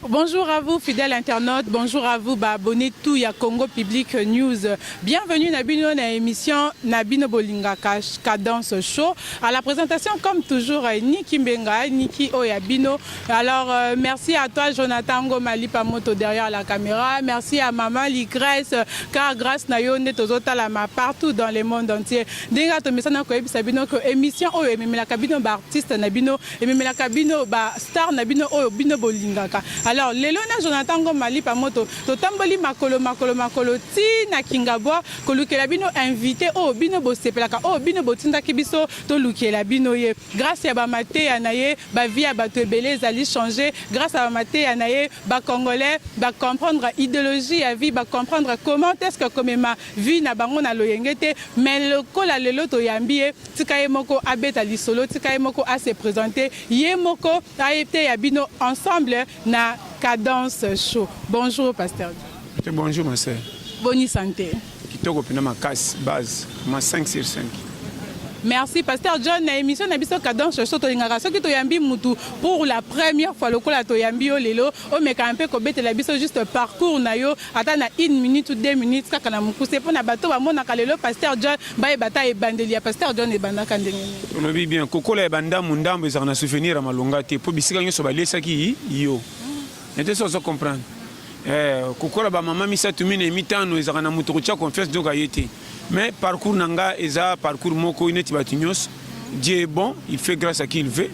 Bonjour à vous, fidèles internautes. Bonjour à vous, bah, abonnés tout ya Congo Public News. Bienvenue na bino na émission na bino bolinga cadence show. À la présentation, comme toujours, euh, Niki Mbenga, Niki Oyabino. Alors, euh, merci à toi, Jonathan Ngomali Pamoto derrière la caméra. Merci à Maman Ligresse, car grâce na yo, tozota la ma partout dans le monde entier. Denga to mesana ko ebisa bino ko émission oyo ememela kabino ba artiste na bino ememelaka bino ba star na bino oyo bino bolingaka alors lelo na jonathan ngoma lipa moto totamboli makolo makolo makolo ti na kingabwa kolukela bino invité oyo bino bosepelaka oyo bino botindaki biso tolukela bino ye grâce ya bamateya na ye bavie ya bato ebele ezali change grâce ya bamateya na ye bacongolais bacomprendre idéologie ya vie bacomprendre comment est ce que komema vie na bango na loyenge te mais lokola lelo toyambi ye Tika ye moko abeta lisolo, tika ye moko a se presenter, ye moko ayeteya bino ensemble na cadence show. Bonjour pasteur. Te bonjour ma sœur. Boni santé. Kitoko pena makasi base ma 5 sur 5. Merci Pasteur John na émission na biso cadence show tolingaka soki toyambi mutu pour la première fois lokola toyambi yo lelo omeka mpe kobetela biso juste parcours na yo ata na une minute ou deux minutes kaka na mokuse mpo na bato bamonaka lelo pasteur John bayeba ata ebandeli ya pasteur John ebandaka ndenge nini. Olobi bien kokola ya bandambu ndambu ezalaka na souvenir ya malonga te mpo bisika nyonso baliesaki yo nete so ozo comprendre eh, kokola bamama misato minei mitano ezalaka na moto kotia confiance donc aye te mais parcours na nga eza parcours moko neti bato nyonso Dieu est bon il fait grâce à qui il veut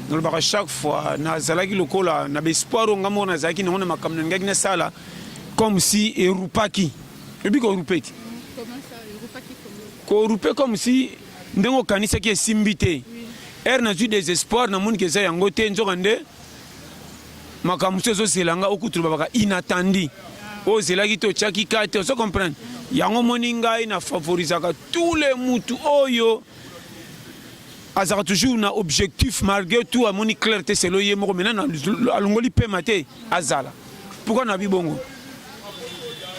nalobaka chaque fois nazalaki lokola na baespoir oyo ngai moko nazalaki nango na makambo nalingaki nasala comme si erupaki oyebi korupe ti korupe comme si ndenge okanisaki esimbi te ere nazwi desespoir namoni ke eza yango te nzoka nde makambo mosusu ezozela nga okutu lobabaka inatandi oyo ozelaki te otyaki ka te ozo comprendre yango omoni ngai na favorisaka tous les mutu oyo azalaka toujours na objectif malgré tout amoni claire te selo ye moko maintenant alongoli pema te azala Pourquoi na bibongo?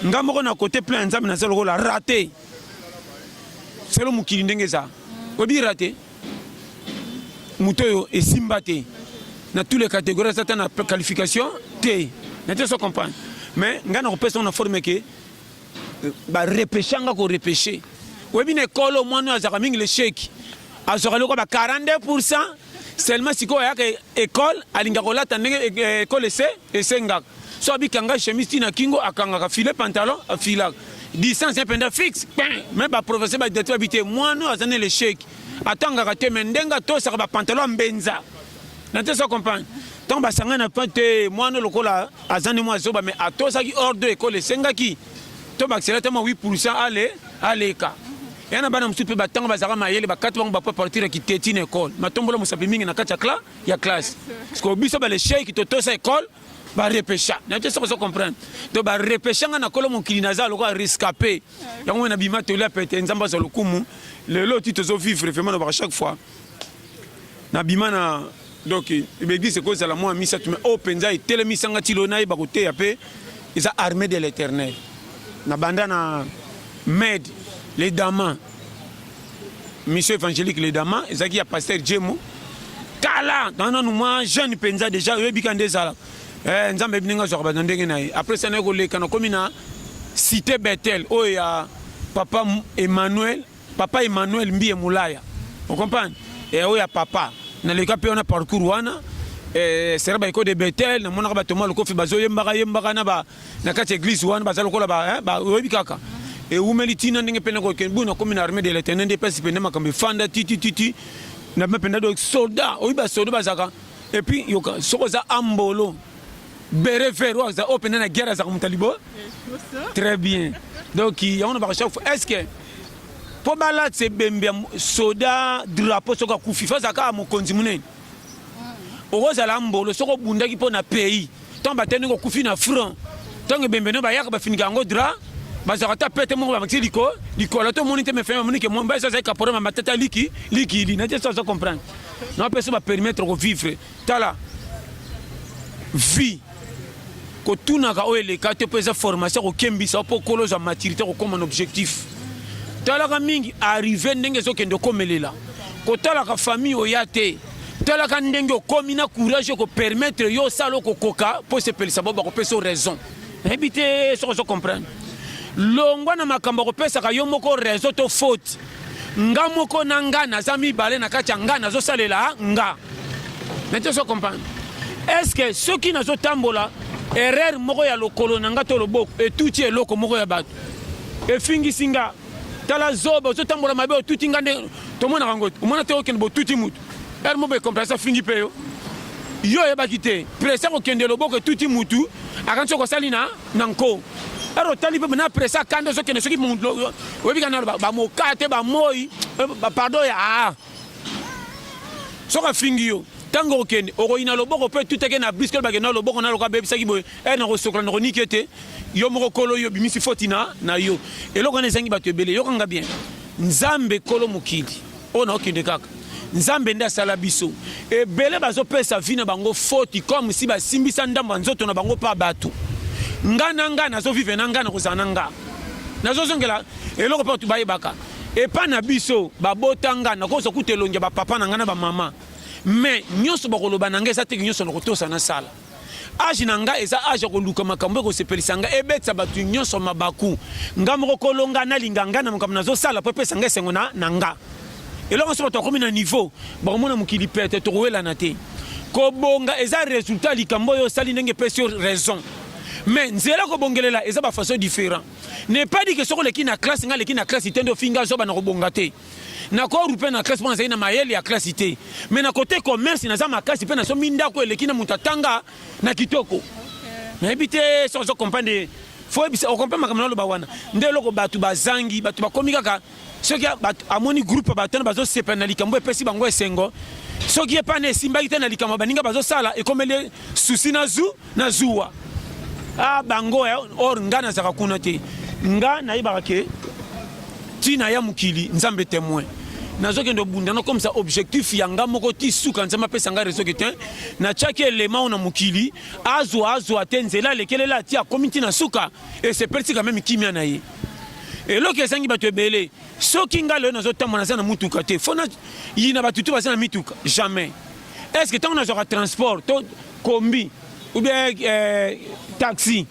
Nga moko na côté plein ya Nzambe naza lokola raté. Selo mokili ndenge eza. Oyebi raté? Moto oyo esimba te. Na tous les catégories aza ata na qualification te. Na te so comprendre. Mais nga na kopesa na forme que euh, ba repêcher nga ko repêcher. Oyebi na ekolo mwana oyo azaka mingi le chèque. Azwaka loko ba 42% Seulement sikoyo ayaka ecole alinga kolata ndenge ecole ese esengaka so abikanga chemise ti na kingo akangaka file pantalon afilaka distance ye mpenza fixe me baprofesseur badidati babi te mwana oyo aza na lecheki atangaka te me ndenge atosaka bapantalon ya mbenza na te so comprendre ntango basangani na pa te mwana lokola aza nde mwa zoba me atosaki ordre ekole esengaki to bakisela ata mwa 8 pourcent ale aleka ya na bana mosusu mpe batango bazalaka mayele bakati bango bapo partir ya kiteti na ekole matombola mosapi mingi na kati ya kla ya classe sikoyo biso balesheki totosa ekole barepecha na te soki ozo comprendre to barepecha nga na kolo mokili naza lokola rescape yango na bima toli ya pete nzambe azwa lokumu lelo ti tozo vivre vraiment na baka chaque fois Na bima na donc l'église ko zala moi misa tu me o penza etele misa nga tilo na yeba ko te ya pe eza armée de l'éternel. Na banda na med les damas mission évangélique les damas ezaki ya pasteur Jemo kala nana nous moi jeune penza déjà yo bika ndezala. Eh nzambe bininga zo ba ndenge na après ça na ko leka na komina cité Bethel oyo ya papa Emmanuel Papa Emmanuel Mbiye Mulaya. On comprend? Et oya papa. Na leka pe on a parcours wana. Eh, sera baiko de Bethel na monaka batoma lokofi bazoyembaka yembaka na ba na kati église wana baza lokola ba hein, ba oyebi kaka ewumeli ntina ndenge mpe nakokende bui nakomi na armée de l'éternel nde mpasi mpenza makambo efanda titititi na mpenza do soda oyebi basoda bazalaka epuis yoka soki oza ambolo Bere vert oyo aza oyo mpenza na guerre azaka moto ya libo très bien donc yango na baka chaque fois est ce que mpo balatisa ebembe ya soda drapeau soki akufi fo azala kaka mokonzi monene mm. okozala mbolo soki obundaki mpo na pays ntango batali ndenge okufi na front ntango ebembe no bayaka bafinika yango dra bazalaka ata pete moko babakisi liko likolo to moni te mefai bamoni ke mobali so azali kaporama matata liki likili na te so aza comprendre na bapesa bapermettre kovivre Tala vie kotunaka oyo eleka te mpo eza formation kokembisa mpo okolo ozwa maturité kokoma na objectif talaka mingi arrive ndenge ezokende okomelela kotalaka famille oya te talaka ndenge okomi na courage okopermettre yo osala okokoka mpo osepelisa bao bakopesa yo raison nayebi te soki ozo comprendre longwa na makambo akopesaka yo moko raison to faute Nga moko na nga naza mibale na kati ya nga nazosalela nga. Nete ozo comprendre? Est-ce que soki nazotambola erreur moko ya lokolo na nga to loboko etuti eloko moko ya bato efingisi nga tala zoba ozotambola mabe otuti nga nde tomonaka yango omona te okende botuti motu ere moko ekompresa fingi mpe yo yo oyebaki te presa kokende loboko etuti mutu akanisi okosali na na nko ero otali mpe na presa akanda ezokende soki oyebi ka nano bamoka te bamoi eh, pardon ya aa ah. soki afingi yo ntango okende okoyina loboko mpe tuteke na briske olobake na loboko na loka abebisaki boye e eh, nakosokola nakoniki ete yo moko kolo yo obimisi foti na na yo eloko wana ezangi bato ebele yokanga bien nzambe kolo mokili oyo naokende kaka nzambe nde asala biso ebele bazopesa vi na bango foti comme si basimbisa ndambo ya nzoto na bango mpa bato nga na nga nazovive na nga nakozala na nga nazozongela eloko mpe bato bayebaka epai na biso babota nga nakozwa kuta elongi ya bapapa na ngai na bamama me nyonso bakoloba na ngai eza teke nyonso nakotosa nasala Age na nga eza age ya koluka makambo ekosepelisa nga ebetisa bato nyonso mabaku nga moko kolonga nalinga nga na makambo nazosala mpo epesa nga esengo na, na nga eloko nyonso bato bakomi na niveau bakomona mokili pete tokowelana te kobonga eza resultat ya likambo oyo osali ndenge epesi yo raison mais nzela kobongelela eza bafaçon différent ne pas dire ke soki oleki na classe nga aleki na classe te nde ofinga zoba na kobonga te na ko rupe na classe mpo nazali na mayele ya classe te me na kote commerce naza makasi mpe nasombi ndako eleki na moto atanga na kitoko nayebi te soki ozo comprendre fo oyebisa okomprendre makambo naloba wana nde eloko bato bazangi bato bakomi kaka soki amoni groupe bato wana bazosepela na likambo epesi bango esengo soki ye mpana esimbaki te na likambo baninga bazosala ekomeli susi na zu na zuwa a ah, bango eh, or nga nazalaka kuna te nga nayebaka ke ntina ya mokili nzambe temoin nazokende obunda nakomisa objectif ya nga moko ti suka nzambe apesa nga rezo ke te natyaki elema oyo na mokili azwa azwa te nzela alekelela ati akomi nti na suka esepelisi kame mikimia na ye eloko ezangi bato ebele soki nga lelo nazotambola naza na motuka te fo na yina bato tu baza na mituka jamais est ce que ntango nazwaka transport to Combi ou bien eh, taxi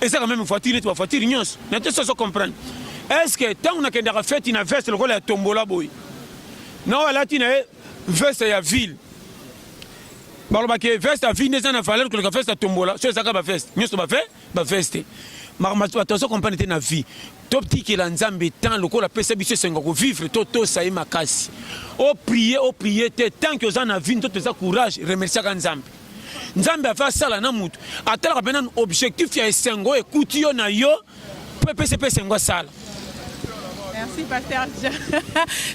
eza quand même voiture neti ba voiture nyonso na te soso comprendre est ce que ntango nakendaka feti na veste lokola ya tombola boye nao alati na ye veste ya ville balobaki veste ya ville nde eza na valeur koleka veste ya tombola so ezaka baveste nyonso bave ba veste makambo bato azo comprendre te na vie totikela nzambe temps lokola apesa biso esengo kovivre totosa ye makasi oprie oprie te tant que oza na vie nzoto eza courage remerciaka nzambe nzambe ave asala na motu atalaka mpe nanu objectif ya esengo oyo ekuti yo na yo mpo epesa mpe esengo asala Merci, Pasteur.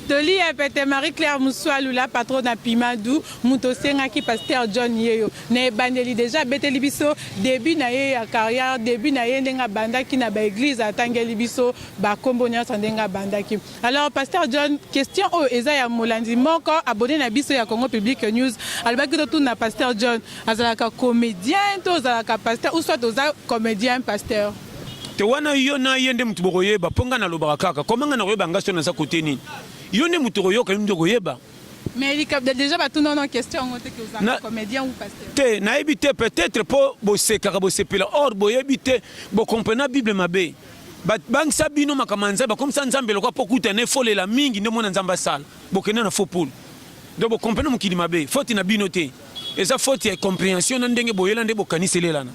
Toli, Pete Marie-Claire Moussoalou, la patronne à Pimadou, Moutosengaki, Pasteur John Yeyo. Na ebandeli dejà abeteli biso debut na ye ya carrière, debut na ye ndenge abandaki na ba eglise atangeli biso ba kombo nionso ndenge abandaki. Alors Pasteur John, question oyo eza ya molandi moko abonne na biso ya Congo Public News alobaki totuna Pasteur John azalaka comedien to ozalaka pasteur ou soit oza comedien pasteur? Te wana yo na ye nde mutu bokoyeba po nga nalobaka kaka comment nga nakoyeba nga soki naza cote nini? Yo nde mutu okoyoka yo nde okoyeba. Mais likabda déjà batuna wana question yango te que ozalaka comedien ou pasteur. Te, nayebi te peut-être po bosekaka bosepela or boyebi te bokomprena Bible mabe. Babangisa bino makambo ya Nzambe, bakomisa Nzambe lokola po kuta na efolela mingi nde mona Nzambe asala. Bokende na faux poule. Donc bokomprena mokili mabe, faute na bino te. Eza faute ya comprehension na ndenge boyela nde bokanisi elelana.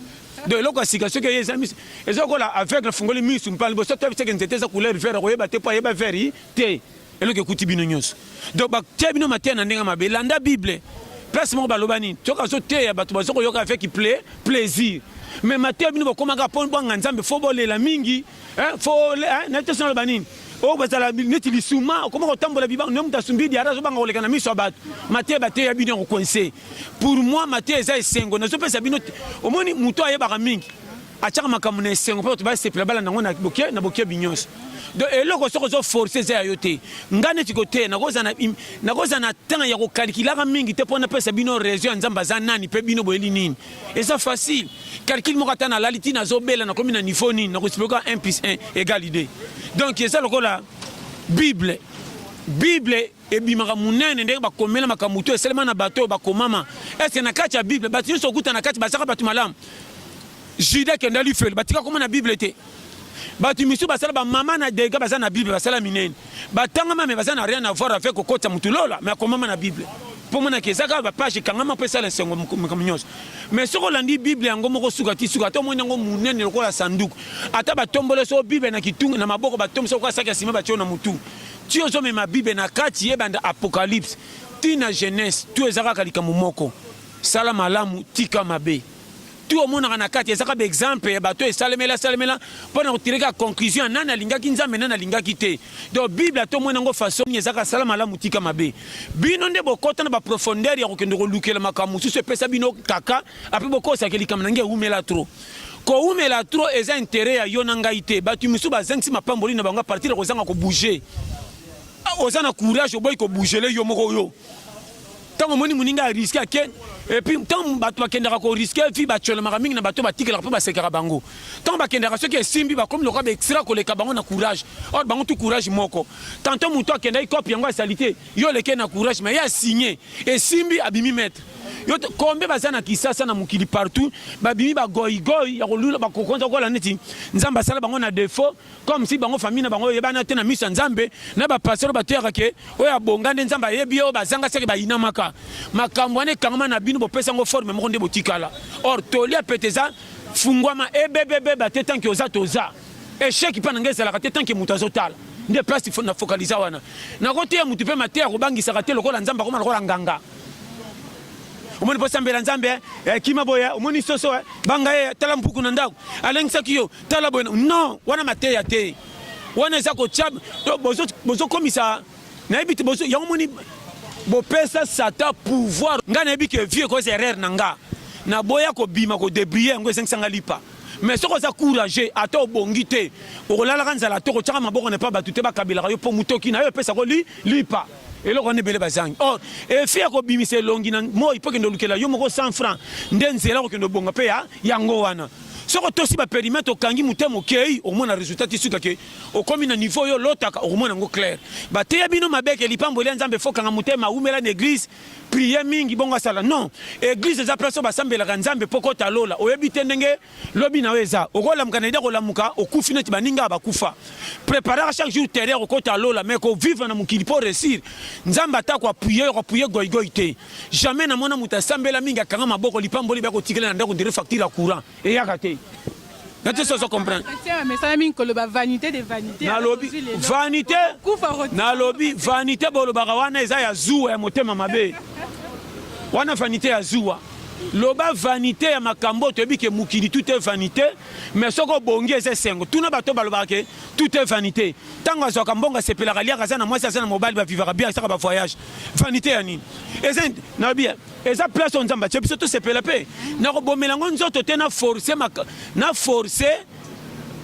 Donc eloko ya sika soki eye eza miso eza lokola aveugle afungoli miso mpa liboso toyebi seke nzete eza couleur vert akoyeba te po ayeba vert te. Eloko ekuti bino nyonso. Donc batia bino mateya na ndenge mabe. Landa Bible. Place moko baloba nini? Soki azoteya bato bazo koyoka avec plaisir. Mais mateya bino bokomaka mpo bwanga Nzambe fo bolela mingi. Hein? Fo hein? na te sona banini? oyo bazala neti lisuma okoma kotambola bibango nde moto asumbi diara azobanga koleka na miso ya bato mateya bateya bino ya kokonse pour moi mateya eza esengo nazopesa bino omoni moto ayebaka mingi atiaka makambo na esengo mpo bato basepela balanda yango na boke na bokebi nyonso donc eloko soki ozo force eza ya yo te ngai neti koteya nakozala na temps ya kokalkilaka mingi te mpo napesa bino raison ya nzambe aza nani mpe bino boyeli nini eza facile calcule moko ata nalali ti nazobela nakomi na niveau nini nakoexplika 1 plus 1 egal 2 donc eza lokola bible bible ebimaka munene ndenge bakomela makambo to esalema na bato oyo bakomama ese na kati ya bible bato nyonso okuta na kati bazaka bato malamu juda kenda lifelo batika koma na bible te bato misusu basala bamama na dega baza na bible basala minene batangama me baza na rien avoir avec kokotisa motu lola me akomama na bible mpo monaka eza kaka bapage ekangama mpo esala esengo makambo nyonso me soki olandi bible yango moko suka ti suka ata omoni yango monene lokola sanduku ata batombole soko bible na kitunga na maboko batomboli soko asaki ya nsima batio na motu Ti ozo mema bible na kati ebanda apocalypse ti na genese tout eza kaka likambo moko sala malamu tika mabe tout omonaka na kati eza kaka ba exemple ya bato esalemela salemela mpo na kotire kaka conclusion ya nani alingaki nzambe nani alingaki te donc bible ata omoni yango façon nini eza kaka sala malamu tika mabe bino nde bokota na baprofondeur ya kokende kolukela makambo mosusu epesa bino kaka apres bokosake likambo na nge ewumela trop Kowumela trop eza interet ya yo na ngai te. Batu misusu bazangisi mapamboli na bango a partir ya kozanga ko bouger. Ah, oza na courage oboyi ko bougele yo moko yo. Tango omoni moninga a risque ake et puis tango bato bakendaka ko risque vie batyolamaka mingi na bato batikelaka mpe basekaka bango. Tango bakendaka soki esimbi bakomi lokola ba extra koleka bango na courage. Or bango tout courage moko. Tantôt moto akendaki coop yango ya salite Yo leke na courage mais ya signe esimbi abimi maître. Yo kombe baza na kisasa na mokili partout babimi ba goy goy ya kolula ba kokonza kola neti nzambe asala bango na défaut comme si bango famille na bango yebana te na misa nzambe na ba pasteur ba tuyaka ke oyo abonga nde nzambe ayebi yo bazanga seke bayinamaka makambo wana ekangama na bino bopesa ngo forme moko nde botikala or tolia peteza fungwama ebebebe bate tanki oza toza Echec pa na ngai ezalaka te tant que moto azotala nde place na focalisa wana nakoteya motu mpe mateya akobangisaka te lokola nzambe akoma lokola nganga omoni mpo sambela nzambe eh, eh, kima boye eh, omoni soso banga ye tala mpuku na ndako alengisaki yo tala boye non wana mateya te wana eza kotya bozokomisa nayebi te yango moni bopesa satan pouvoir ngai nayebi ke vie ekoza erreur na nga naboya kobima kodebrille yango ezangisa nga lipa mais soki oza courage ata obongi te okolalaka nzala to kotyaka maboko na epa bato te bakabelaka yo mpo motoki na yo epesako li, lipa eloko wana ebele bazangi or efi ya kobimisa elongi na moi mpo kende olukela yo moko 100 franc nde nzela kokende obonga mpe ya yango wana soki otosi baperimetre okangi motema okei okomona resultat ti suka ke okomi na niveau yo olotaka okomona yango claire bateya bino mabeke lipamboli ya nzambe fokanga motema awumela na eglise prier mingi bongo asala non eglise eza place oyo basambelaka nzambe mpo kota lola oyebi te ndenge lobi na yo eza okolamuka na ide kolamuka okufi neti baninga ya bakufa preparaka chaque jour terreur okota lola mais kovivre na mokili mpo resir nzambe atako apuye yo apuye goigoi te jamais namona moto asambela mingi akanga maboko lipamboli bya kotikela na ndako ndire facture ya courant eyaka te na te soso comprendre nalobi vanité nalobi vanité bolobaka wana eza ya zuwa ya motema mabe wana vanité ya zuwa loba vanité ya makambo toyebi ke mokili tout est vanité mais soki obongi eza esengo tuna bato balobaka ke tout est vanité ntango azwaka mbongo asepelaka aliaka aza na mwasi aza na mobali bavivaka bien asaka bavoyage vanité ya nini eza nalobi eza place oyo nzambe atie biso tosepela mpe nakobomela yango nzoto te na force na force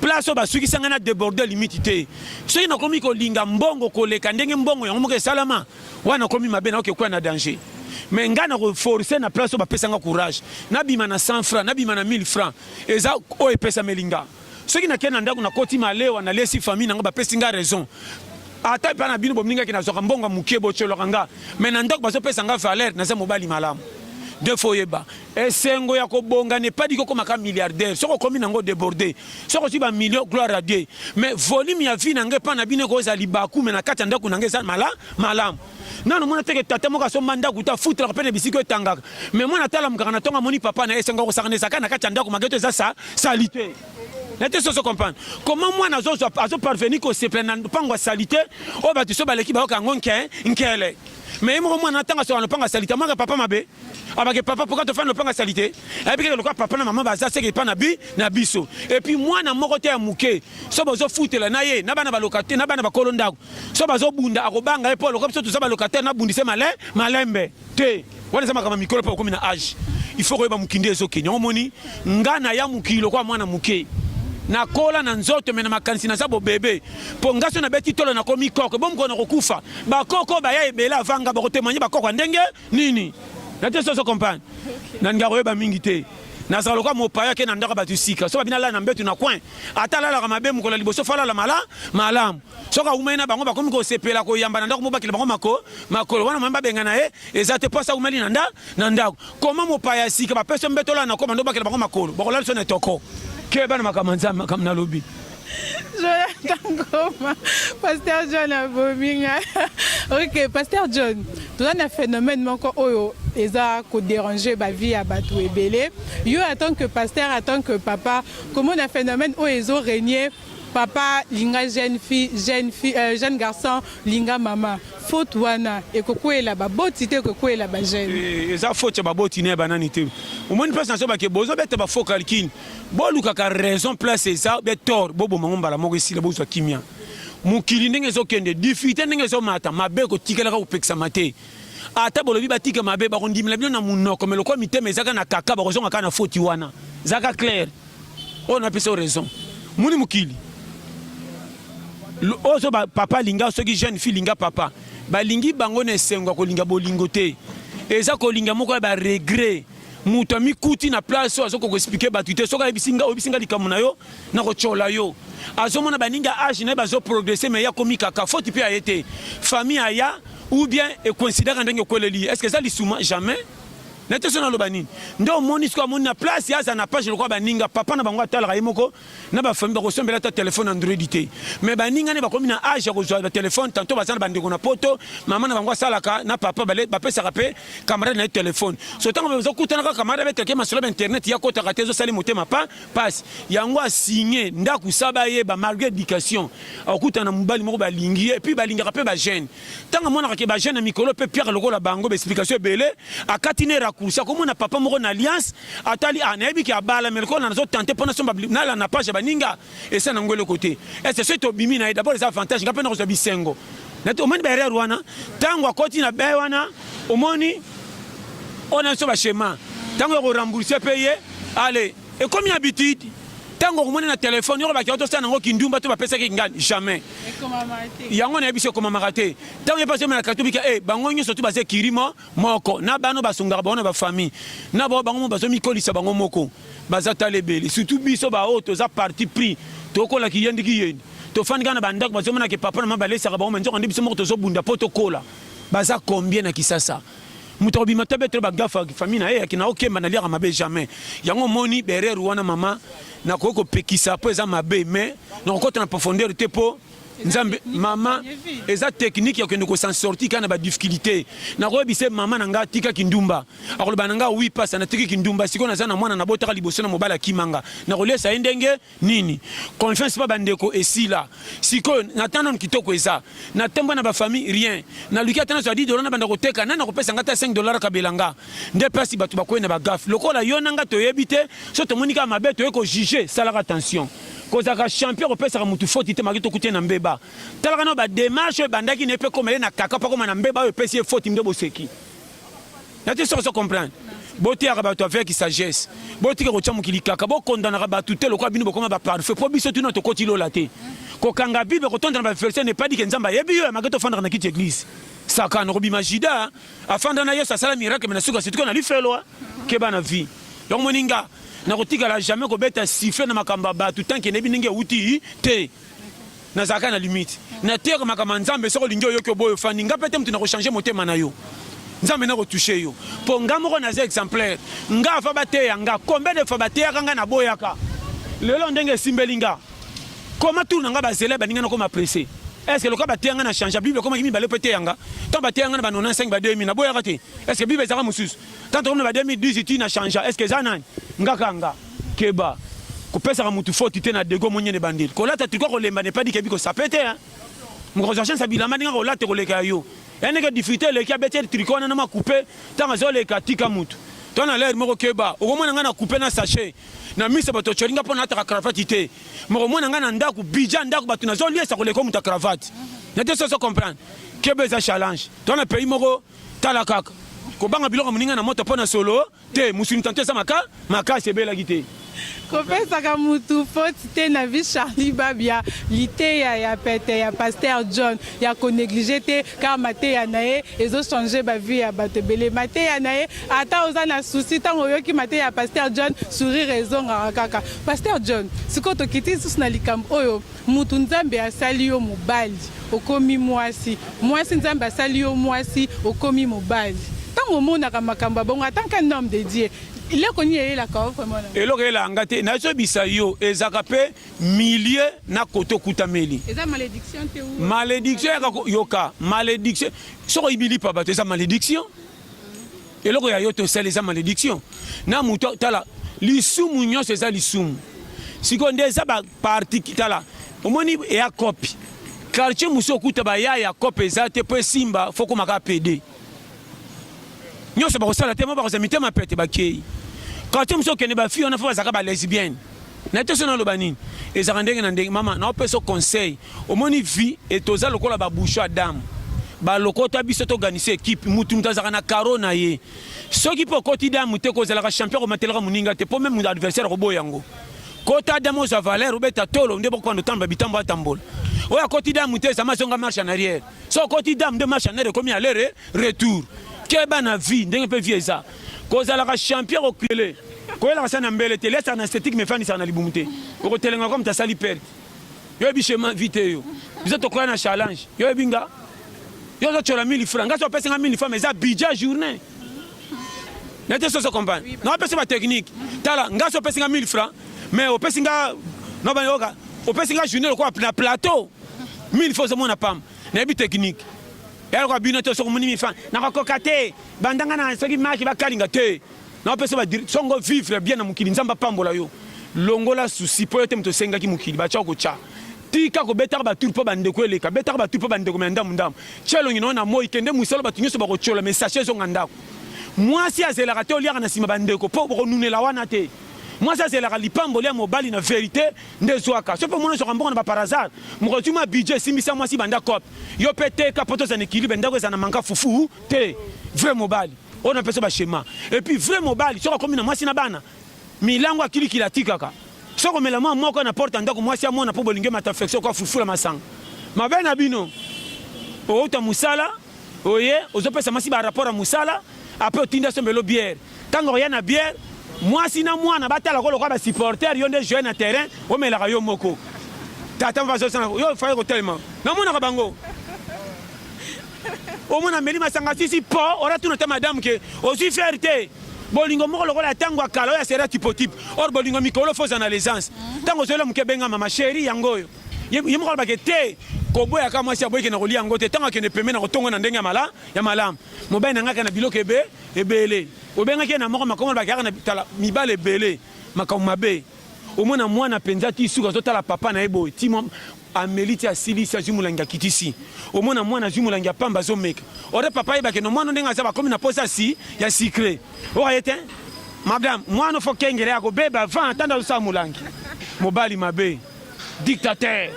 place oyo basukisa ngai na deborde limite te soki nakomi kolinga mbongo koleka ndenge mbongo yango moko esalama wana nakomi mabe nakoki kokwea na danger me ngai nakoforce na place oyo bapesa ngai courage nabima na 100 franc nabima na 1000 franc eza oyo epesameli ngai Soki na kenda ndaku na koti malewa na lesi famille na nga ba pesi nga raison. Ata pa na bino bo mninga ke na zwaka mbongo mukie bo tsholaka nga. Mais na ndaku bazo pesa nga valeur na za mobali malamu. De fo yeba. Esengo ya ko bonga ne pas dit ko koma ka milliardaire. Soki okomi na ngo deborde. Soki ozwi ba millions gloire à Dieu. Mais volume ya vie na nga epa na bino eko za libaku mais na kati ya ndaku na nga eza mala malamu. nanu mona teke tata moko asomba ndako ta futraka mpe na bisika etangaka me mwana atalamukaka na ntongo amoni papa na ye esengo kosakana ezaka na kati ya ndako mageto eza sa salite nete soso comprendre comment mwana azoparvenir kosepela na mpango ya salite oyo bato so baleki bayoka yango nke nkele me ye moko mwana ntango asoka na lopanga ya salite amwaka papa mabe abake papa mpoka tofandi lopanga ya salite ayebi keke lokola papa na mama baza seke epa na bi na biso epuis mwana moko te ya moke so bozofutela na ye na bana baloka te na bana bakolo ndako so bazobunda akobanga ye mpo aloka biso toza balocataire nabundise male malembe te wana eza makambo ya mikolo mpe okomi na age il faut koyeba mokili nde ezokende yango omoni nga na ya mokili lokola mwana moke nakola na nzoto me na makanisi naza bobebe mpo nga so nabeti tolo nakomi koko bo mokolo nakokufa bakoko baya ebele avanga bakotemanye bakoko ya ndenge nini na te soso compagne nalinga koyeba mingi te nazala lokola mopaya ake na ndako bato sika so babina lala na mbetu na coin ata alalaka mabe mokolo ya liboso fo alala mala malamu soki awumeli na bango bakomi kosepela koyamba na ndako mobakela bango mako makolo wana mama babengana ye eza te mpo asa awumeli na nda na ndako koma mopaya ya sika bapesi yo mbetola na koma ndo bakela bango makolo bakolala biso na etoko ke bana makambo ya nzambe makambo nalobi jonathan goma pasteur john abomi ngai ok pasteur john toza na phénomène moko oyo eza koderange bavie ya bato ebele yo en tant que pasteur en tant que papa komona phénomène oyo ezo régner Papa linga jeune fille, jeune fille, euh, jeune garçon linga mama. Faute wana ekokwela baboti te ekokwela ba jeune. Eh, eza faute ya baboti ne banani te. Omoni place nazo bake bozo bete ba faux calcul. Bolukaka raison place eza be tort boboma ngo mbala moko esila bozwa kimia. Mokili ndenge ezokende, difficulté ndenge ezomata, mabe kotikelaka kopekisama te. Ata bolobi batika mabe bakondimela bino na munoko, mais lokola mitema ezaka na kaka bakozonga kaka na faute wana. Zaka clair. oyo napesa yo raison moni mokili ozo ba papa alinga soki jeune fille linga papa balingi bango na esengo ya kolinga bolingo te eza kolinga moko ya baregret moto amikuti na place oyo azokoka explike bato te soki ayebisi nga oyebisi nga likambo na yo nakotyola yo azomona baningi ya age na ye bazoprogresse mai akomi kaka foti mpe aye te famille aya ou bien ekoinsidaka ndenge okweleli ye estce eza lisuma jamais na te so naloba nini nde omoni sikoyo amoni na place ye aza na page lokola baninga papa na bango atalaka ye moko na bafamille bakosombela ata telefone android te mais baninga nde bakomi na age ya kozwa batelefone tanto baza na bandeko na poto mama na bango asalaka na papa bapesaka mpe camarade na ye telefone so ntango bazokutanaka camarade abetake masolo ba internet ye akotaka te ezosali motema pa pasi yango asigne ndako sa bayeba malgré éducation akokutana na mobali moko balingi ye epuis balingaka mpe bajeune Tango amonaka ke ba jeune mikolo pe Pierre lokola bango ba explication ebele, akati ne raccourci akomona papa moko na alliance, atali ah nayebi ke abala mais lokola nazo tenter pona somba nala na page ya baninga esa na ngo eloko te. Est ce soki tobimi na ye d'abord eza avantage nga pe nakozwa bisengo. Nati omoni ba erreur wana tango akoti na bain wana omoni oyo na biso ba schema tango ya ko rembourser pe ye allez Ekomi habitude. Tango okomoni na telephone yoko bakio tosala nango kindumba to bapesaki ngani jamais. Yango na yebiso ekomamaka te. Tango ye paso mela katubika eh bango nyoso tu baze kirimo moko na bano basungaka bango na ba famille na bango bango mo bazo mikolisa bango moko baza talebele surtout biso ba oyo toza parti pris tokola kiyendi kiyendi tofandi kaka na ba ndako bazomona ke papa na mama balesaka bango me nzoka nde biso moko tozobunda po tokola baza combien na Kisasa moto akobima te abetela bagafa famille na ye yaki na okemba na liaka mabe jamais yango omoni berere wana mama nakoki kopekisa mpo eza mabe mais nakokota na profondeur te mpo nzambe mama eza teknike ya kokende kosansorti kaka na badifficulté nakoyebisa mama na ngai atika kindumba akoloba na ngai wi pasa natiki kindumba sikoyo naza na mwana nabotaka liboso na mobali akima nga nakolesa ye ndenge nini confiance pa bandeko esila sikoyo na temps nanu kitoko eza na temba na bafamille rien naluki ata nazwa 10 dola na banda koteka nani akopesa nga ata 5 dola akabela nga nde mpasi bato bakwei na bagafe lokola yo na nga toyebi te so tomoni kaka mabe toye kojuge salaka attention kozalaka champion kopesaka motu foti te maki tokuti ye na mbeba talaka na bademarche oyo ebandaki na ye mpe ekoma ye na kaka mpo akoma na mbeba oyo epesi ye foti nde boseki nati soki ozo comprendre boteyaka bato avec sagesse botika kotya mokili kaka bokondanaka bato te lokola bino bokoma baparfait mpo biso tuna tokoti lola te kokanga bible kotonda na baverse nepadike nzambe ayebi yo yamake tofandaka na kiti eglise sakana okobima jida afanda na yesu asala miracle me na suka situko na lifelwa keba na vie donc moninga nakotikala jamais kobeta siffle na makambo ya bato tanke nayebi ndenge euti te nazalaka na limite na tere makambo ya nzambe soki olingi oyoki oboyo ofandi nga mpe te moto na kochange motema na yo nzambe na kotouche yo mpo nga moko naza exemplaire nga ava bateya nga combien de fois bateyaka nga naboyaka lelo ndenge esimbeli nga koma tour na nga bazela ebandi nga nakoma presse est-ce que lokola bateya nga na change bible ekomaki mibale mpe eteya nga ntango bateya nga na ba 95 ba 2000 naboyaka te est-ce que bible ezalaka mosusu ntango tokomi na ba 2018 na change est-ce que eza nani nga kanga Keba kopesaka mutu foti te na dego monyene bandeli kolata triko kolemba ne padi kebi kosape te hein mokonzi wa shensa bilamba ndenge kolata koleka ya yo eneke difficulté eleki abeti triko wana na makupe ntango azoleka tika mutu to na ler moko keba okomona ngai na kupe na sachet na miso bato otyoli ngai mpo nalataka cravate te mokomona ngai na ndako bidja ndako bato nazoliesa koleka moto ya cravate na te soso comprendre keba eza challenge to na pays moko tala kaka kobanga biloko moninga na moto mpo na solo Te musuni tanto eza maka makasi ebelaki te. Kopesaka mutu faute te na vie Charlie Babia liteya ya pete ya pasteur John ya ko negliger te car mateya na ye ezo changer ba vie ya batu ebele mateya na ye ata oza na souci tango oyoki mateya ya pasteur John sourire ezongaka kaka pasteur John sikoyo tokiti lisusu na likambo oyo Mutu nzambe asali yo mobali okomi muasi muasi nzambe asali yo muasi okomi mobali tango omonaka makambo ya bongo atant qu'un homme de Dieu eloko nini eyelaka yo vraiment na eloko eyelaka nga te nazobisa yo ezalaka mpe milieu na kote okutameli eza malediction te ou malediction yaka yoka malediction soko ibilipa bato eza malediction eloko ya yo tosali eza malediction na moto tala lisumu nyonso eza lisumu sikoyo nde eza parti tala omoni eya kopi quartier mosusu okuta baya ya kope eza te mpo esimba fokomaka pede nyonso bakosala te mo bakozala mitema pete bakei quartier mosusu okende bafi wana fo bazalaka balesbienne na te so naloba nini ezalaka ndenge na ndenge mama naopesa conseil omoni vie etoza lokola baboucho ya dame balokota biso toganisa ekipe mutu mutu azalaka na karo na ye soki mpe okoti damu te kozalaka champion komatelaka moninga te mpo meme adversaire akoboya yango Kota dame oza valeur obeta tolo nde bokobanda otamba bitambo atambola oyo akoti dame te zama zonga marche en arrière so okoti dame nde marche en arrière ekomi alere retour keba na vie ndenge mpe vie eza kozalaka champion kokele koyelaka sa na mbele te lesa na esthétique me fandisaka na libumu te okotelenga comme tasali perte yo yebi chemin vie te yo biso tokoya na challenge yo yebi nga yo ozocola mili franc nga so opesi nga mili franc eza bidja journée nete soso comprendre na opesi ba technique tala nga so opesi nga 1000 francs mais opesi nga na ba yoka opesi nga journée lokola na plateau 1000 fois zo mona pam na yebi technique ya lokola bino to soko moni 1000 francs na ko koka te bandanga na soki maki ba kalinga te na opesi ba songo vivre bien na mokili nzamba pambola yo longola souci po yo te moto osengaki mokili ba tshoko tcha Tika kobetaka ba tour po ba ndeko eleka. Betaka ba tour po ba ndeko me ndamu ndamu. Tia elongi na yo na moyi kende musolo batu nyoso bako tshiola me sachet ezonga ndako. Mwasi azelaka te oliaka na sima ba ndeko po boko nunela wana te. Mwasi azelaka lipamboli ya mobali na verite nde ezwaka. Soki pe omoni ozwaka mbongo na ba par hasard, mokolo ozwi mwa budget esimbisa mwasi banda coop. Yo pe teka po tozala na equilibre ndako ezala na manka fufu te. Vrai mobali oyo na pesa yo ba schema. Et puis vrai mobali soki akomi na mwasi na bana, Milangu ya kili kili atikaka. Soko mela mwa moko na porte ya ndako mwasi amona po bolingi emata flexion ko afufula masanga. Mabe na bino. Owuta musala oye ozo pesa mwasi ba rapport ya musala apres otindi asombelo bière. Tango akoya na bière mwasi na mwana batala ko lokola ba supporter yo nde jouer na terrain omelaka yo moko. Tata mva azo sala yo fallait kotelema. Namonaka bango. omona ameli masanga sisi po ora tuna ta madame ke ozwi fer te bolingo moko lokola ntango ya kala oyo ya sera tipotipe or bolingo mikolo foza na lesance ntango mhm. ozoyela moke ebenga mama sheri yango oyo ye moko alobake te koboyaka mwasi aboyike na kolia yango te ntango akende pembe na kotongo na ndenge ya malamu mobali na ngaka na biloko ebe ebele obengaki ye na moko makomo alobake yaka na tala mibale ebele makambo mabe omona mwana mpenza ti suka azotala papa na ye boye ti ameli ti asilisi azwi molangi akitisi omona mwana azwi molangi ya pamba azomeka ore papa ayebake no mwana ndenge aza bakomi na posa si ya sikre okaye te madame mwana fo kengele akobeba avant atanda azosala molangi mobali mabe dictateur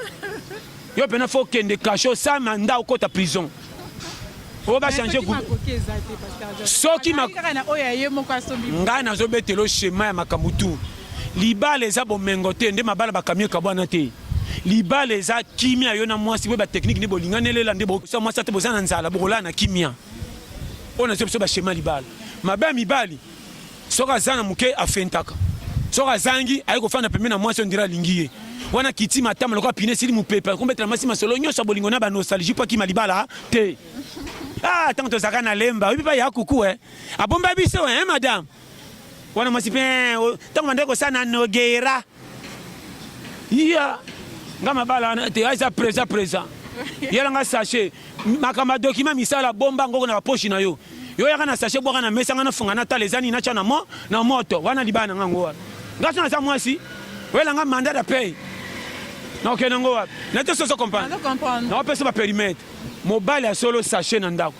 yo mpena fo okende kasho sama nda okota prison oyo bachange soki ngai nazobetelo shema ya makambo tu libala eza bomengo te nde mabala bakamio ekabwana te libala eza kimia yo na mwasi boye bateknike nde bolingani elela nde bosa mwasi ate boza na nzala bokolala na kimia oyo nazo biso bashema libala mabe ya mibali Soki aza na muke afentaka. Soki azangi aye kofanda pembeni na mwasi on dirait alingi ye. Wana kiti matama lokola pine esili mupepe akombetela mwasi masolo nyonso ya bolingo na ba nostalgie mpo akima libala te. Ah tango tozalaka na lemba oyebi pa ya kuku eh abomba biso eh madame wana mwasi mpe eh, tango bandaki kosala na nogeira iya nga mabala wana te aza présent présent yela nga sachet makambo ya document misala bomba ngoko na baposhi na yo yo yaka na sachet bwaka na mesa nga nafunga natala eza nini natya na mo na moto wana libala na nga ngo wana nga so naza mwasi oyela nga mandat ya pay nakokende ngo wapi nate soso comprendre naopesa baperimetre mobali ya solo sachet na ndako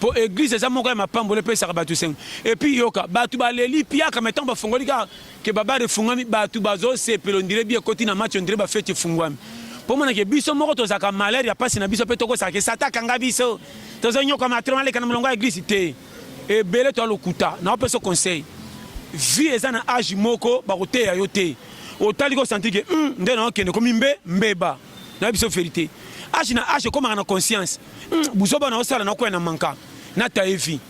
po eglise eza moko ya mapamboli epesaka bato esengo epuis yoka bato baleli piaka mai ntango bafongoli kaka ke babare efungwami bato bazosepela ondire bi ekoti na match ondire bafeti efungwami mpo monake biso moko tozalaka malere ya mpasi na biso mpe tokosaka ke sata akanga biso tozonyoka matro aleka na molongo ya eglise te ebele to alokuta naopesa conseil vie eza na age moko bakoteya yo te otali kosantike hmm, nde naokende komi mbe mbeba na biso verite age na age ekomaka na conscience hmm, buzoba na osala na okoya na manka na taye vie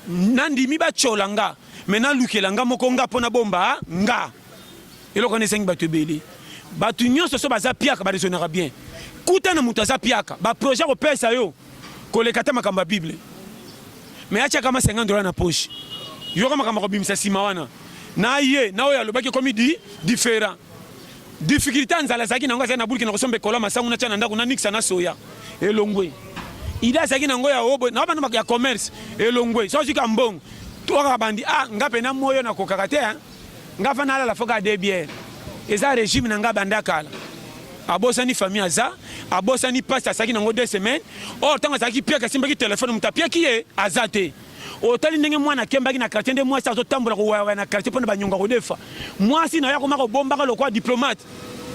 nandimi batyola nga me nalukela nga moko nga mpo nabomba nga eloko wana esengi bato ebele bato nyonso so baza piaka baresonaka bien kuta na moto aza piaka baprojet akopesa yo koleka ata makambo ya bible me atyaka ma 50 dola na poche yoka makambo akobimisa nsima wana na ye na oyo alobaki ekomi di different difficulté ya nzala azalaki nango azali na bulki na kosomba ekolo ya masangu natya na ndako nanikisa na soya elongwe ide azalaki nango ya obo na bana ya commerce elongwe so azwika mbongo tokaka bandi a ah, nga mpe na moyo nakokaka te Nga avant nalala faut kaka deux bières. Eza regime na nga banda kala. Abosani famille aza, abosani pasi asaki nango deux semaines. Or tango azalaki piaka asimbaki telefone moto apiaki ye aza te. Otali ndenge mwana akembaki na quartier nde mwasi azotambola kowayawaya na quartier mpo na banyongo akodefa. Mwasi na yo akoma kobombaka lokola diplomate.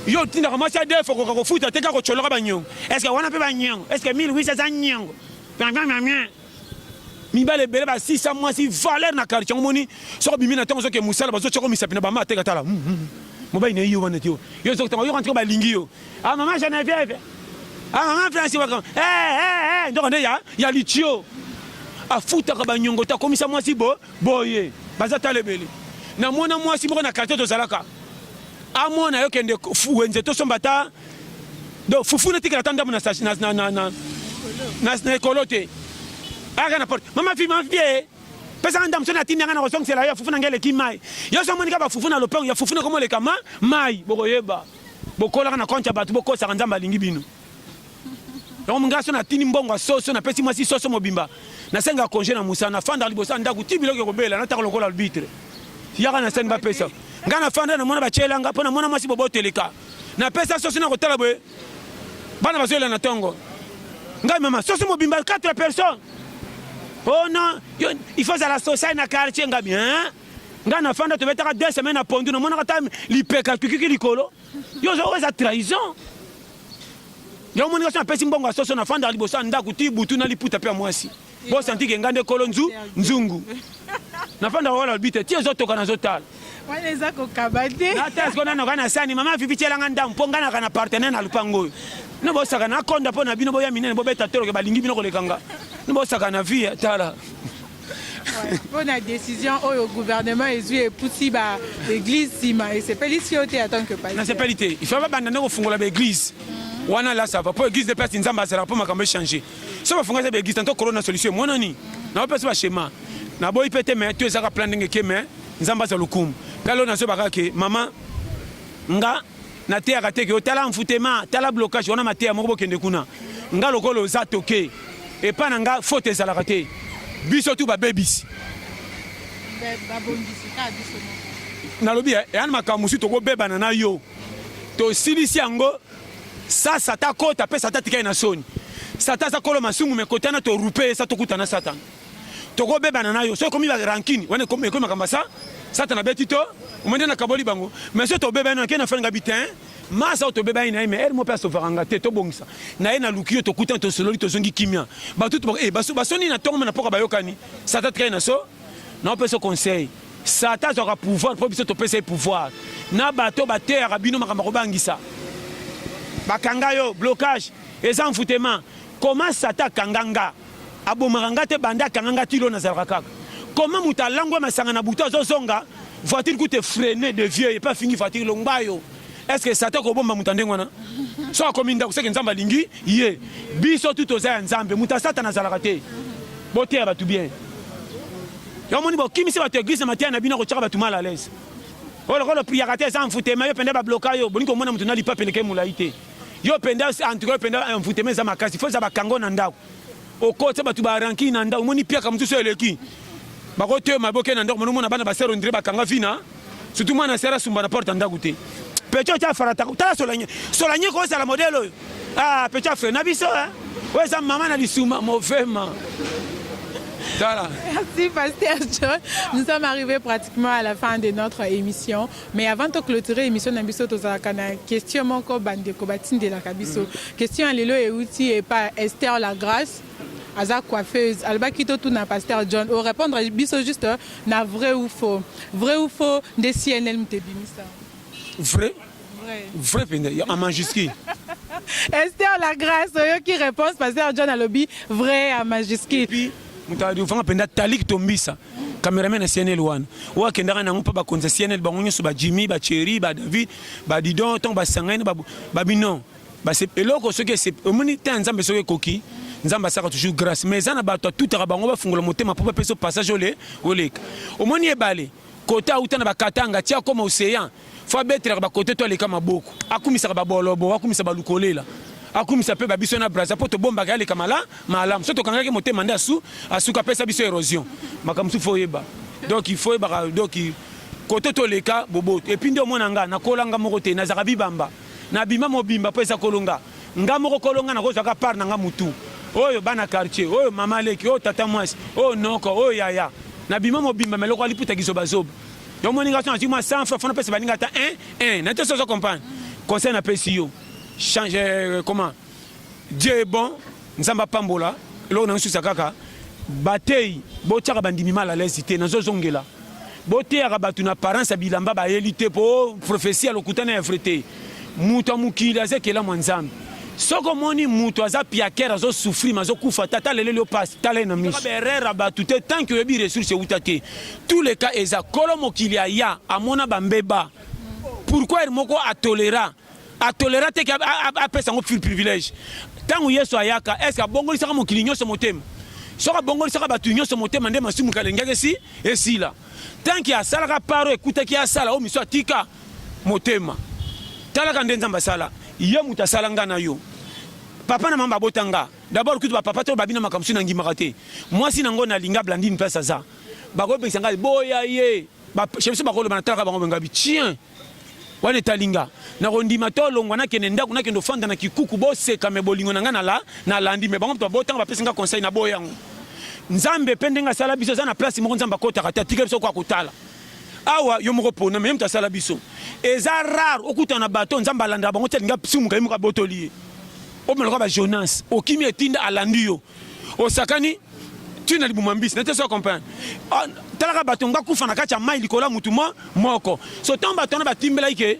Yo otindaka mwasi adefa okoka kofuta te kaka kotyoloka banyongo. Est-ce que wana mpe banyongo? Est-ce que 1800 aza nyongo? mibale ebele basisa mwasi valeur na quartier yango moni soko bimi na ntango ozoke mosala bazotyako misapi na bama ateka tala hmm, hmm, hmm. mobali na ye yo wana te yo yo ezokotanga oyoka ntiko balingi yo a ah, mama genevieve a ah, mama franci waka eh, eh, eh, ndoko nde ya ya litio afutaka banyongo te akomisa mwasi bo boye baza tala ebele namona mwasi moko na quartier tozalaka amona yo kende wenze tosomba ta donc fufu natikala ata ndambo na ekolo te ayaka na porte mama fi mama fie pesaka ndambo so natindi yanga na kozongisela yo fufu na ngai eleki mai yo so omonika bafufu na lopango ya fufu nakomoleka ma mai bokoyeba bokolaka na konte ya bato bokosaka nzambe alingi bino yango mongai so natindi mbongo ya soso napesi mwasi soso mobimba nasenga konge na mosala nafandaka liboso ya ndako ti biloko ekobela nataka lokola albitre yaka na sani bapesa ngai nafanda namona batyelanga mpo namona mwasi boboteleka Na pesa sosi na kotala boye bana bazoyela na tongo ngai mama sosi mobimba 4 personnes oh non il faut zala social na quartier ngai bien ngai na fanda tobetaka deux semaines na pondu namonaka ta lipeka tukiki likolo yo ozo eza trahison yango moninga so apesi mbongo ya soso na fanda liboso ya ndako ti butu na liputa mpe ya mwasi Bo santi ke nga nde kolo nzu nzungu. Nafanda wala bite ti ezo toka nazo tala. Wana eza kokaba te. Na test kona noka na sani mama vivi tiela nga ndamu po nga na kana partenaire na lupango oyo. No bo saka na konda po na bino boya minene bo beta tolo ke balingi bino koleka nga. No bo saka na vie tala. mpo na décision oyo gouvernement ezwi epusi ba église nsima esepelisi yo te en tant que pasteur nasepeli te il faut babanda nde kofungola ba église wana lasava mpo église de place nzambe azalaka mpo makambo echange soki bafunga eza baeglise tanto corona solution emonani nao mpe so bashema naboyi mpe te me to ezaka plan ndenge ke me nzambe aza lokumu mpe alo nazobaka ke mama nga nateyaka te ke otala mfutema tala blocage wana mateya moko bokende kuna nga lokola oza toke epai na nga faute ezalaka te biso tu babebisi nalobi eh, eyani makambo mosusu tokobebana na yo tosilisi yango Sa sata akota pe sata atikali na soni. Sata aza kolo masumu me kotana to rupe sa tokuta na satana. Tokobebana na yo. Soki ekomi ba rancune wana ekomi ekomi makambo sa satana beti to omende na kaboli bango. Mais soki tobebani na kena fanga bitin masa tobebani na ye mais elmo pe asovaka nga te tobongisa na ye na luki yo tokutana tosololi tozongi kimia batutu eh, basoni na ntongo me na mpoka bayokani sata tikali na so na opesa conseil Satan azwaka pouvoir mpo biso topesa ye pouvoir na bato bateyaka bino makambo akobangisa bakanga yo blocage eza envoutema koma satan akanga nga abomaka nga te banda akanga nga tilo nazalaka kaka koma moto alangwa masanga na butu azozonga voiture kute freine de vieux epe afingi voiture longba yo eske satan kobomba moto ndenge wana so akomi ndako seke nzambe alingi ye biso tu toza ya nzambe moto ya satana azalaka te boteya bato bien Yo moni bo kimisi bato eglise na mateya na bino kochaka bato mal à l'aise. Oyo lokola priaka te eza envoutema yo penda ba bloka yo bolingi komona moto na lipa peleke molai te. Yo penda en tout cas yo penda envoutema eza makasi faut eza bakango na ndako. Okotse bato ba ranki na ndako moni piaka mosusu eleki. Bakotema boke na ndako mona bana basero ndire bakanga vina. Surtout mwana asala asumba na porte ya ndako te. Pecho atia farata. Tala Solanye. Solanye ko sala modèle oyo. Ah, Pecho afre na biso hein. Oyo eza mama na lisuma movema. Tala. Merci Pasteur John. Nous sommes arrivés pratiquement à la fin de notre émission. Mais avant de clôturer l'émission, na biso tozalaka na question moko bandeko batindelaka biso. Question ya lelo euti epa Esther Lagrace. aza coiffeuse alobaki totuna pasteur john orépondre biso juste euh, na vrai ou faux vrai ou faux nde cnlm te bimisa vrai vrai mpenza en majuscule ester la grâce oyoki réponse pasteur john alobi vrai en majuscule moto afanga mpenza talik tombisa cameraman ya cnl wana oyo akendaka nango mpo bakonzi ya cnl bango nyonso bajimi bacheri badavid badidon ntango basangani babino Base eloko soki ese omoni temps ya Nzambe soki ekoki Nzambe asaka toujours grâce mais eza na bato atutaka bango bafungola motema mpo bapesa passage ole oleka omoni ebale kota auta na bakatanga ti akoma océan fo abetelaka bakote to aleka maboko akumisaka babolobo akumisa balukolela akumisa mpe babiso na braza mpo tobombaka aleka mala malamu so tokangaki motema nde asu asuka apesa biso érosion makambo mosusu fo oyeba donc il faut oyebaka donc kote toleka boboto epuis nde omona nga nakolanga moko te nazalaka bibamba Na bima mobimba po eza kolo nga. Nga moko kolo nga nako zwa ka part na nga mutu. Oyo bana quartier, oyo mama leki, oyo tata muasi, oyo noko, oyo yaya. Na bima mobimba mais lokola liputa kizoba zoba. Yo moni nga soki nazwi mua 100 francs faut na pesa baninga ata un, un. Nayebi te soki ozo comprendre. Conseil na pesi yo, change comment? Dieu est bon, Nzambe apambola. Eloko na nsusa kaka bateyi botyaka bandimi mal à l'aise te, nazozongela boteyaka bato na apparence ya bilamba bayeli te, mpo profesi ya lokuta na ya vrai te. Moto ya mokili aza ekelamu ya Nzambe. Soki omoni moto aza piakere azosufri ma azokufa te ata leleli yo mpasi tala ye na miso baerreur ya bato te tanki oyebi ressource euta te tous les cas eza kolo mokili aya amona bambeba pourquoi moko atolera a tolera te apesa yango privilège ntango yesu ayaka eske abongolisaka mokili nyonso motema soki abongolisaka bato nyonso motema nde masumu kalengaki esi esila tanki asalaka paro ekutaki asala oyo miso atika motema talaka nde nzambe asala ye moto asala nga na yo papa na mama babota nga dabord kutu bapapa to babina makambo soki nangimaka te mwasi nango nalinga blandine place aza bakobengisa ngai boya ye biso bakoloba natalaka bango bengabi tien wana etalinga nakondima to longwa nakende ndako nakende ofanda na kikuku boseka me bolingo na ngai nala nalandi me bango moto babotanga bapesi ngai conseil na boye yango nzambe mpe ndenge asala biso eza na place moko nzambe akotaka te atika biso ko akotala awa yo moko pona me ye moto asala biso eza rare okutana na bato nzambe alandaka bango ti alinga sumuka ye moko abotoli ye omeloka ba jonas okimi etinda alandi yo osakani tu na libuma mbisi nete so comprendre ah, talaka bato nga kufa na kati ya mai likolo ya motu mo moko so ntango bato wana batimbelaki ke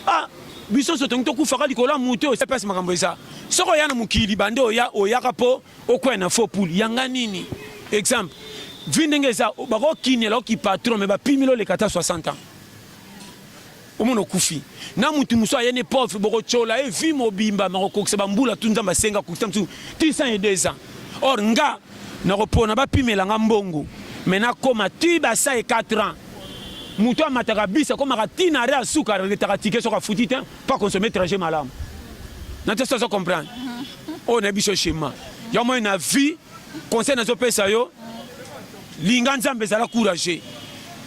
ah biso nyonso tongi tokufaka likolo ya motu oyo epesi makambo eza soki oya na mokili bande oya oyaka mpo okwea na faux poule yanga nini exemple vi ndenge eza bakokinela oki patron me bapimeli oleka ata 60 ans Omona okufi na mutu mosusu aye ne pauvre bokocola ye vie mobimba makokokisa bambula tu nzambe asenga kokisa mosusu ti 102 ans or nga nakopona bapimela nga mbongo me nakoma ti basa ye 4 ans moto amataka bisi akomaka ti na re asuka aretaka tike soki afuti te mpo akonsome trajet malamu na te sozo comprendre oyo na biso shema ya moi na vie conseil nazopesa yo linga nzambe ezala courage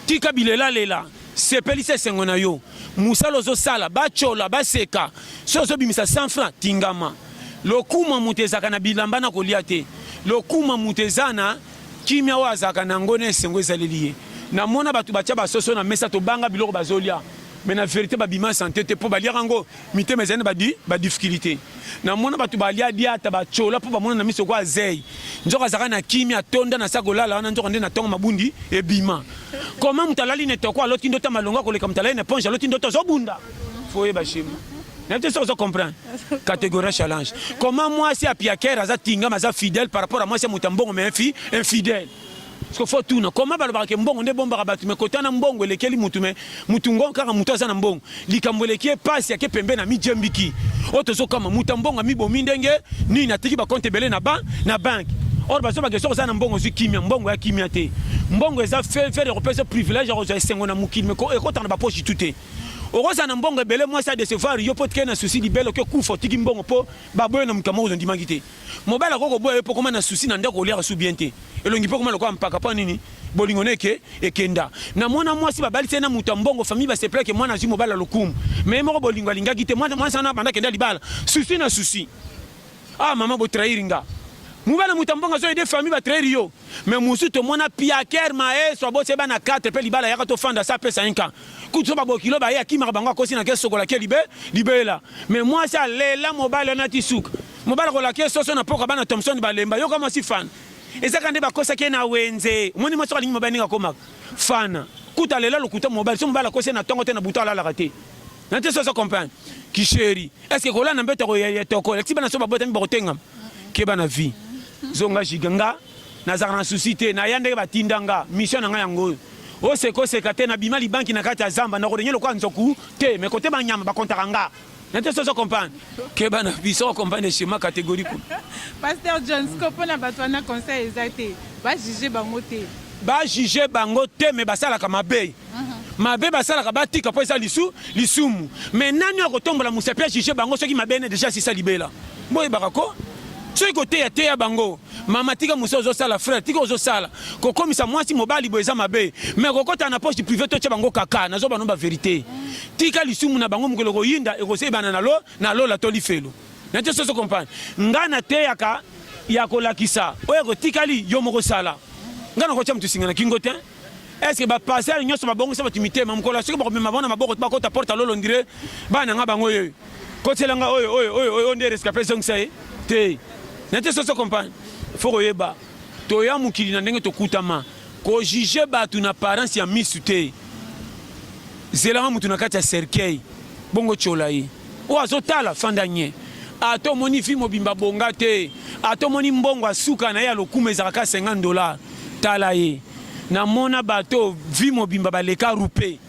tika bilelalela sepelisa esengo na yo mosala ozosala bacola baseka so ozobimisa 100 franc tingama lokuma moto ezalaka na bilamba na kolia te lokuma moto eza na kimia oyo azalaka na yango na esengo ezaleli ye namona bato batya basoso na mesa tobanga biloko bazolia me na verite babima sante te mpo baliaka yango mitema ezali na badifficulté na mona bato balia diata bacola mpo bamona na miso kwa zei nzoka azalaka na kimi atonda na sa kolala wana nzoka nde na ntongo mabundi ebima koma moto alali na etoko aloti ndoto ya malonga koleka moto alali na eponge aloti ndoto azobunda fo oyeba shema nayebi te soki ozo comprendre catégorie challenge koma mwasi ya piakere aza tingama aza fidèle par rapport ya mwasi ya moto ya mbongo mais infidèle Siko faut tuna comment balobaka ke mbongo nde bombaka bato me kota na mbongo elekeli mutu me mutu ngo kaka mutu aza na mbongo likambo eleki ye pasi ake pembe na mijembiki oyo tozokama mutu ya mbongo amibomi ndenge nini atiki bakonte ebele na ba na banke or bazobaka soki oza na mbongo ozwi kimia mbongo ya kimia te mbongo eza fevere ekopesa privilege ya kozwa esengo na mokili me ekota na baposhi tu te okozala na mbongo ebele mwasi adesevoir yo mpo tike na susi libele oke kufa otiki mbongo mpo baboye na moto ya moko ozondimaki te Mobali akoki koboya yo mpo okoma na susi na ndako oliaka su bien te elongi mpo okoma lokola mpaka mpo nini bolingo na eke ekenda na mwana mwasi babalisi ye na moto ya mbongo famille basepela ke mwana azwi mobali ya lokumu me ye moko bolingo alingaki te mwana mwasi wana abanda kenda libala susi na susi ah mama botrahiri nga mobali ya moto ya mbongo azo ede famille batrahiri yo me mosusu tomona piaker maestro aboti ye bana 4 mpe libala yaka tofanda sa apesa ye nka kutu so babokilo baye akimaka bango akosi na ke sokola ke libe libela me mwasi alela mobali wana ti suka Mobala ko laquer soso na poka bana Thompson balemba yoka mwasi fan ezaka nde bakosaki ye na wenze omoni mwasi alingi mobali ndenge akomaka fana kuta lela lokuta mobali so mobali akosi na ntongo te na butu alalaka te na te soso comprendre kisheri eske kolala na mbeto ya toko elakisi bana so babotami bakotengama keba na vie zonga jiga nga nazalaka na susi te naya ndenge batinda nga mission na ngai yango oyo osekoseka te nabima libanki na kati ya zamba nakodenye lokola nzoku te me kote banyama bakontaka nga na te sozo comprendre que bana biso o comprendre schéma catégorie ko pasteur John siko pona bato wana conseil eza te ba juger bango te ba juger bango te mais basalaka mabe mabe basalaka batika mpo eza lisu lisumu me nani oyo akotombola mosapi ya juge bango soki mabe ene deja asisa libela boyebaka ko soki koteya teya bango Mama tika musa ozo sala frère tika ozo sala kokomisa mwasi mobali bo eza mabe mais kokota na poche privé to tya bango kaka nazo bano ba verité tika lisumu na bango mokolo koyinda ekosebana na lo na lola to lifelo na te soso comprendre nga na teyaka ya kolakisa oyo ekotikali yo moko sala nga na kotya moto singa na kingo te Est-ce que ba passer nyoso ba bongisa batu mitema mukolo soki ba komema bona maboko ba kota porte lolo ndire bana nga bango yo kotela nga oyo oyo oyo oyo nde rescapé zongisa ye te na te soso compagne faut koyeba toya mokili na ndenge tokutama kojuge bato na parence ya misu te zelanga moto na kati ya cercueil bongo tyola ye Oyo azo tala fanda nye. Ata omoni vie mobimba abonga te, ata omoni mbongo ya suka naye ya lokumu ezalaka kaka 50 dollars, tala ye. Namona batu oyo vie mobimba baleka rupe,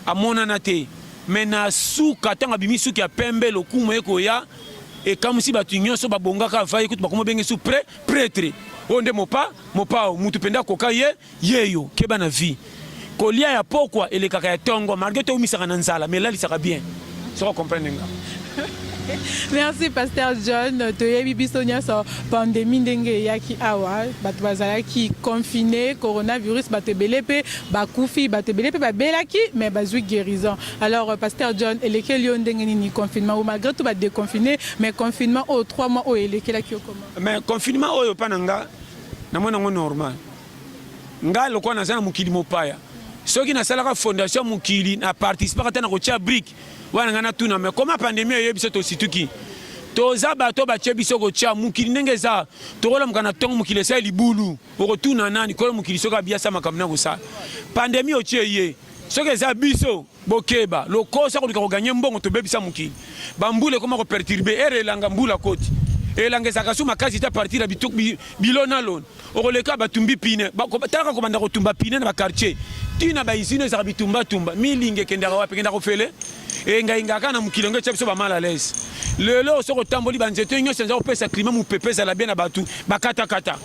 amonana te mais na suka tango abimi suki ya pembe lokumu ekoya, ekamusi batu nyoso, babonga kaka va ye kutu bakomi obenge su pre, pretre. Oyo nde mopa, mopao, mutu penza akoka ye. Yeyo keba na vie kolia ya pokwa elekaka ya tongo malgré to umisaka na nzala mais elalisaka bien soko comprendre nga Merci Pasteur John, toyebi biso nyonso pandemie ndenge eyaki awa, bato bazalaki confine, coronavirus bato ebele mpe bakufi, bato ebele mpe babelaki mais bazwi guérison. Alors Pasteur John, elekeli yo ndenge nini confinement ou malgré tout ba déconfiner mais confinement oyo 3 mois oyo elekelaki yo comment? Mais confinement oyo pa na nga namona yango normal. ngai lokola naza na mokili mopaya soki nasalaka fondation ya mokili na participaka te na kotya brike wana ngai natuna me koma pandemi eye biso tosituki toza bato batye biso kotya mokili ndenge eza tokolamuka na ntongo mokili esali libulu okotuna nani kolo mokili soki abiyasa makambo na kosala pandemi otye ye soki eza biso Bokeba lokoso akoluka ko gagner mbongo tobebisa mokili ba mbula ekoma ko perturber ere elanga mbula koti elanga ezalaka so makasi te partir ya bilo na loni okoleka batumbi pine talaka kobanda kotumba pine na bakartier ti na baizine ezalaka bitumbatumba milingi ekendaka wapi ekendaka ofele engaingaka na mokili yango etya biso bamala lese lelo soki otamboli banzete nyonso eza kopesa klima mopepe ezala bie na bato bakatakata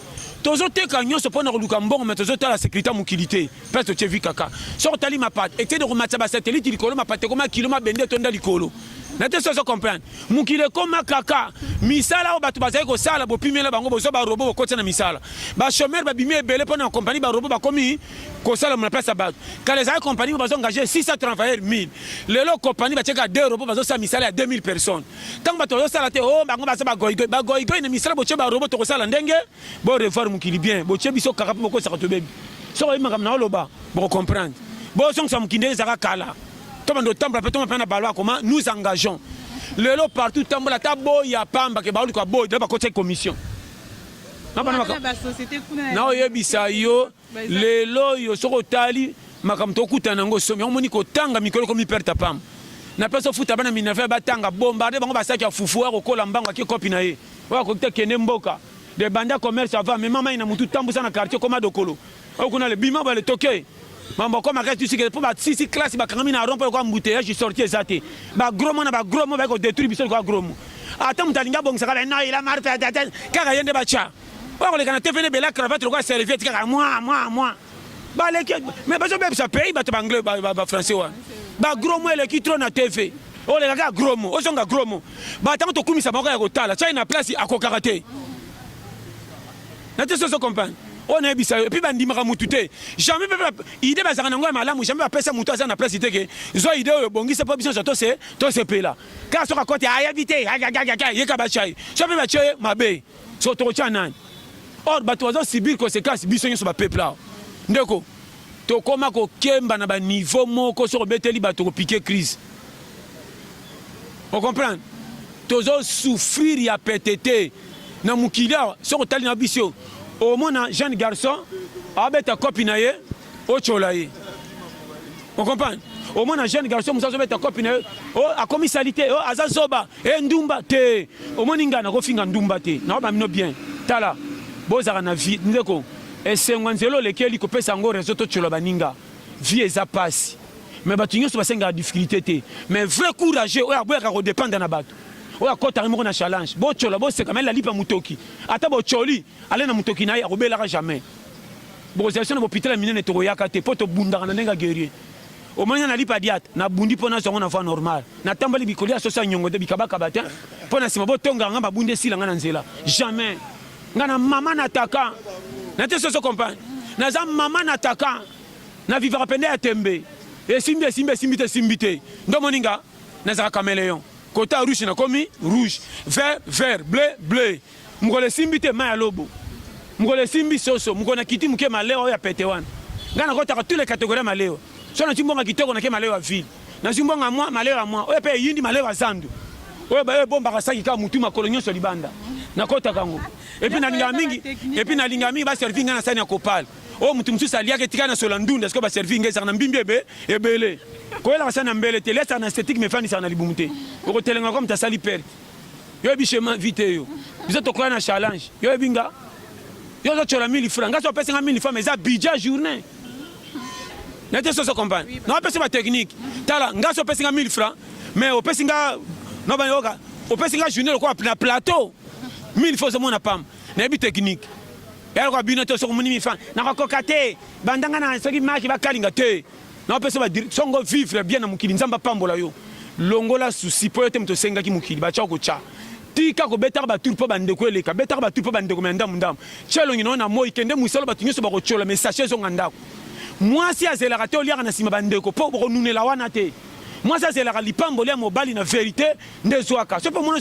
tozoteka nyonso mpo na koluka mbongo me tozotala sekurité ya mokili te place otie vi kaka soki otali mapata ekende komatisa basatelite likolo mapata ekoma kilo mabende etonda likolo na te sozo comprendre mokili ekoma kaka misala oyo bato bazali kosala bopimela bango bozwa barobo bokotisa na misala bachomere babimi ebele mpo na kompani barobo bakomi kosala na place ya bato kala ezali kompani bazo engage 600 travailleurs 1000 lelo kompani batieka 2 robo bazosala misala ya 2000 personnes ntango bato bazosala te o oh, bango baza bagoigoi bagoigoi na misala botie barobo tokosala ndenge Bo revoir mokili bien, botie biso kaka mpe bokosaka tobebi. Soki oyebi makambo na oloba, boko comprendre. Bozongisa mokili ndenge ezalaka kala. Tobanda otambola mpe toma mpe na balo akoma nous engageons. Lelo partout tambola ata boya pamba ke baoluka boyi, bakotaki commission. Na oyebisa yo lelo oyo soki otali makambo tokutana yango somi omoni kotanga mikolo ekomi perte pam na place ofuta bana minerve batanga bombarde bango basaki ya fufu oyo akokola mbango ake kopi na ye oyo akoki te kende mboka de banda commerce ava mema mai na motu tambusa na quartier koma dokolo oyo kuna le bima bale toke mambo akoma kati tusike mpo basisi classe bakangami na rompo lokola mbuteyage sorti eza te bagromo na bagromo baye kodetruire biso lokola gromo ata moto alingi abongisa kala no ila marfe kaka ye nde batya oyo akoleka na tv nebela cravate lokola serviette kaka mwa mwa mwa baleki mais bazobebisa pays bato baanglais bafrançais wana bagromo eleki tro na tv oleka kaka gromo ozonga gromo batango tokumisa moko ya kotala chai na place akokaka te na te soso comprendre oyo nayebisa yo epui bandimaka motu te jamais mpe ide bazalaka nango ya malamu jamais bapesa motu aza na place te ke zwa ide oyo bongisa mpo biso nyonso tosepela kaka soki akoti ayebi te yeka bachai so mpe batie mabe Soko tokotia nani? Or bato bazo subir consequence biso nyonso ba peuple awa. Ndeko tokoma kokemba na ba niveau moko soko beteli bato kopike crise. O comprendre? Tozo souffrir ya pete te na mokili awa soko tali na biso omona jeune garçon abeta copine na ye Ochola ye. On comprend? Au moins na jeune garçon musa zobeta copie na oh akomi salite oh aza zoba eh ndumba te omoni nga nakofinga ndumba te na ba mino bien tala bozaka na vie ndeko esengo nzelo lekeli kopesa yango reseau to chola baninga vie eza pasi mais bato nyonso basengaka difficulté te mais vrai courageux oyo aboyaka kodependre na bato oyo akotaka moko na challenge bocola boseka mai lalipa motoki ata bocoli Alain na mutoki na ye akobelaka jamais. Bokozala biso na bopital ya minene tokoyaka te po tobundaka na ndenge ya guerrier. Omoni nga nalipa diat, nabundi po nazwa ngo na voie normale. Natamboli bikolia soso ya nyongo te, bikabakaba te po na sima botongaka nga mabunda esila nga na nzela. Jamais. Nga na maman nataka. Na te soso compagne. Naza maman nataka. Na vivaka pende ya tembe. Esimbi esimbi esimbi te esimbi te. Nde omoni nga nazalaka cameleon. Kota rouge nakomi rouge. Vert vert, bleu bleu. Mokolo esimbi te mai ya lobo. Mokolo esimbi soso. Mokolo na kiti moke malewa oyo ya pete wana. Nga na kotaka tous les catégories ya malewa. So na zwi mbongo ya kitoko na ke malewa ya ville. Na zwi mbongo ya mwa, malewa ya mwa. Oyo pe eyindi malewa ya zandu. Oyo ba oyo ebombaka saki kaka mutu makolo nionso libanda. Na kotaka ngo. Et puis na lingaka mingi, et puis na lingaka mingi ba servir nga na sani ya kopal. Oyo mutu mususu aliaka etika na sola ndunda siko ba servir nga ezaka na mbimbi ebe ebele. Koyelaka sani ya mbele te, lesa na esthétique mais fandisa na libumu te. Okotelenga ko mutu asali perte. Yo yebi chez ma vie te yo. Biso tokoya na challenge. Yo yebi nga. Yo zo chola 1000 francs. Nga so pesa nga 1000 francs mais za budget journée. Na te so so comprendre. Na pesa ba technique. Tala nga so pesa nga 1000 francs mais o pesa nga no ba yoka. O pesa nga journée lokola na plateau. 1000 francs zo mona pam. Na yebi technique. Ya lokola bino to so ko moni 1000 francs. Na ko kokate. Bandanga na soki maki ba kalinga te. Na pesa ba dir songo vivre bien na mokili nzambe apambola yo longola souci po yo te moto osengaki mokili ba tshako tcha tika ko betaka ba tour po ba ndeko eleka betaka ba tour po ba ndeko me ndamu ndamu tshia elongi na yo na moyi kende musala batu nyoso bako tshiola me sachet ezonga ndako mwasi azelaka te oliaka na sima ba ndeko po boko nunela wana te mwasi azelaka lipamboli ya mobali na verite nde zwaka soki pe omoni